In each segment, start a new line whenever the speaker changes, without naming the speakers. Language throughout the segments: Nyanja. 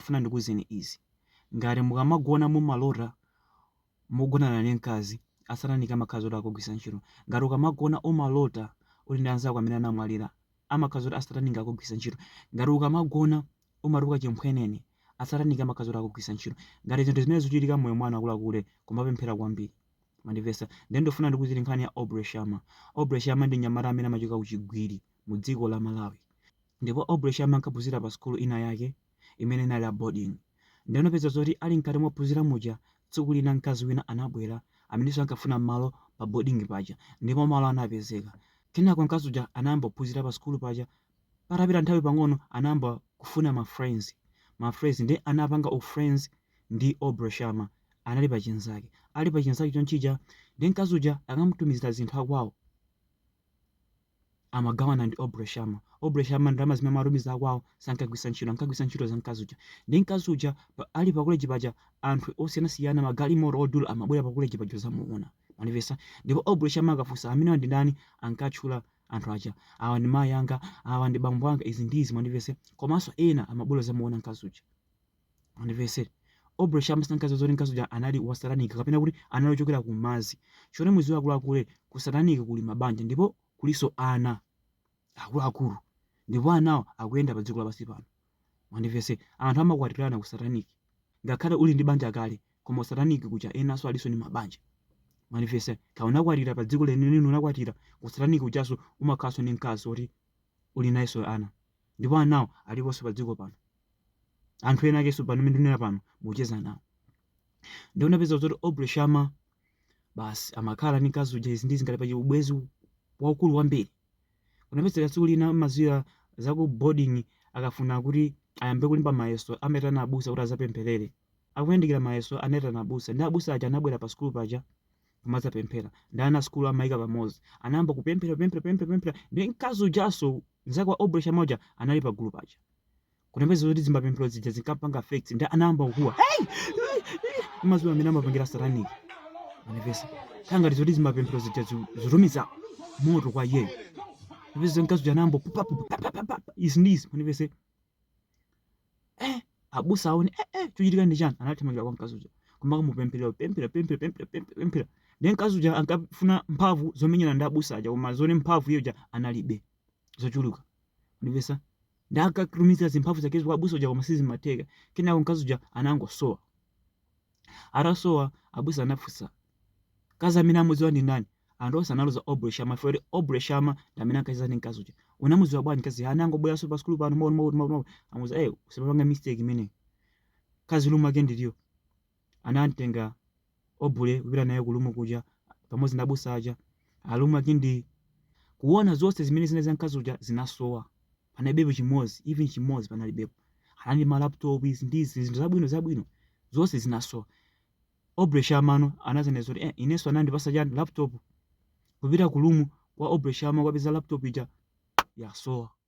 ndikufuna ndikuuzeni izi, ngati mukamagona mumalota mukugonana ndi mkazi, a satanic amakhala zoti akugwiritsa ntchito. Ngati ukamagona umalota uli ndi anzako amene anamwalira, amakhala zoti a satanic akugwiritsa ntchito. Ngati ukamagona umatukuka chimphwenene, a satanic amakhala zoti akugwiritsa ntchito. Ngati zinthu zimene zikuchitika m'moyo mwanu akuluakulu, kumapemphera kwambiri. Mwandimvetsa? Ndiye ndikufuna ndikuuzeni nkhani ya Aubrey Shama. Aubrey Shama ndi mnyamata amene amachoka ku Chigwiri mu dziko la Malawi. Ndipo Aubrey Shama ankaphunzira pa sukulu ina yake imene inali ya boarding. Ndiye unapeza zoti ali mkati mophunzira muja, tsiku lina mkazi wina anabwera amenenso ankafuna malo pa boarding paja ndipo malo anapezeka. Kenako mkazi uja anayamba kuphunzira pa sukulu paja. Patapita nthawi pang'ono anayamba kufuna ma friends, ma friends ndiye anapanga u friends ndi Aubrey Sharma. Anali pa chinzake. Ali pa chinzake chonchija, ndiye mkazi uja akamutumizira zinthu akwawo, amagawana ndi Aubrey Sharma. Aubrey Sharma ndalama zimene amatumiza akwawo sankagwiritsa ntchito, ankagwiritsa ntchito za mkazi uja. Ndiye mkazi uja pa- ali pa college paja anthu osiyanasiyana magalimoto odula amabwera pa college paja zamuona. Mwandimvetsa ndipo Aubrey Sharma akafunsa amenewa ndi ndani ankatchula anthu aja awa ndi mayi anga awa ndi bambo anga izi ndi izi mundimvetse komanso ena amabwera zamuona mkazi uja. Mundimvetsere. Aubrey Shama sankadziwa zoti mkazi uja anali wa satanic kapena kuti anali ochokera ku mazi. Chomwe mudziwe akuluakulu ku satanic kuli mabanja ndipo kuliso ana akuluakulu ndipo anawo akuyenda pa dziko lapansi pano. Mundimvetsere. Anthu amakwatirana ku satanic ngakhale uli ndi banja kale koma satanic kuja enaso aliso ndi mabanja. Mundimvetsere. Kaya unakwatira pa dziko leni leni unakwatira ku satanic kujaso umakhalaso ndi nkazi oti uli nayeso ana ndipo anawo aliposo pa dziko pano. anthu ena akeso pano amene ndinena pano mucheza nawo ndiye unapeza kuti Aubrey Shama basi amakhala ndi mkazi uja izi ndizi ngati pa ubwenzi waukulu kwambiri unapeza tsiku lina mumadziwa za ku boarding akafuna kuti ayambe kulemba mayeso amaitana abusa kuti azapempherere akuyandikira mayeso anayitana abusa ndi abusa aja anabwera pa sukulu paja kumadzapemphera ndi ana sukulu anawayika pamodzi anayamba kupemphera pemphera pemphera pemphera ndi mkazi ujanso mzake wa Aubrey Shama uja anali pa gulu paja Kunapezeka zoti zimapemphero zija zinkampanga affect ndi anayamba kukuwa. Hey! Mumadziwa mmene amapangira a satanic. Mwandimvetsa. Kukhala ngati zoti zimapemphero zija zu- zikutumiza moto kwa iyeyo. Mwandimvetsa mkazi uja anayamba pupa pupa pa pa pa. Izi ndi izi. Mwandimvetsa eh abusa aone eh eh chochitika ndi chani anathamangira kwa mkazi uja kumakamupempherera pemphera pemphera pemphera pemphera pemphera ndiye mkazi uja ankafuna mphamvu zomenyana ndi abusa aja koma zoona mphamvu iye uja analibe zochuluka Ndivesa ndakatumiza zimphamvu zake kwa abusa uja koma sizimatheka kenako mkazi uja anangosowa atasowa abusa anafunsa kazi amene amudziwa ndi ndani anthu onse analoza Aubrey Shama fere Aubrey Shama ndamene ankacheza ndi mkazi uja unamudziwa bwanji kazi anangobweranso pa sukulu pano mawu mawu mawu amuza eh usipanga mistake imene kazi room yake ndiliyo anamtenga Aubrey kupita naye ku room kuja pamodzi ndi abusa aja alomwe ake ndi kuona zonse zimene zinali za mkazi uja zinasowa panalibepo chimodzi even chimodzi panalibepo anali ma laptop izi ndi izi zinthu zabwino zabwino zonse zinasowa Aubrey Shama anazanena zoti eh, inenso anandipatsa chani laptop kupita ku room kwa Aubrey Shama kukapeza laptop ija yasowa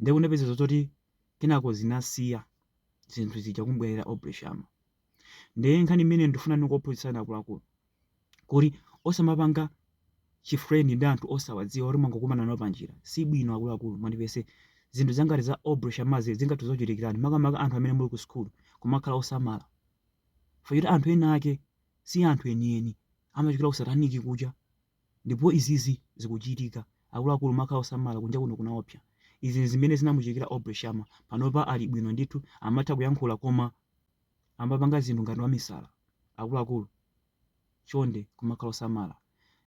Ndiye kunapeza zoti kenako zinasiya zinthu zija kumubwerera Aubrey Shama. Ndiye nkhani imene ndifuna ndikuphunzitsani akuluakulu kuti osamapanga chifrendi ndi anthu osawadziwa oti mwangokumana nawo panjira si bwino akuluakulu mundimvetse zinthu zangati za Aubrey Shamazi zingathe kukuchitikirani makamaka anthu amene muli ku sukulu kumakhala osamala fayoti anthu ena ake si anthu enieni amachokera ku sataniki kuja Ndipo izizi zikuchitika, akuluakulu kumakhala osamala, kunja kuno kunaopsa. Izi n'zimene zinamuchitikira Aubrey Shama. Panopa ali bwino ndithu, amatha kuyankhula koma amapanga zinthu ngati wamisala. Akuluakulu, chonde kumakhala osamala.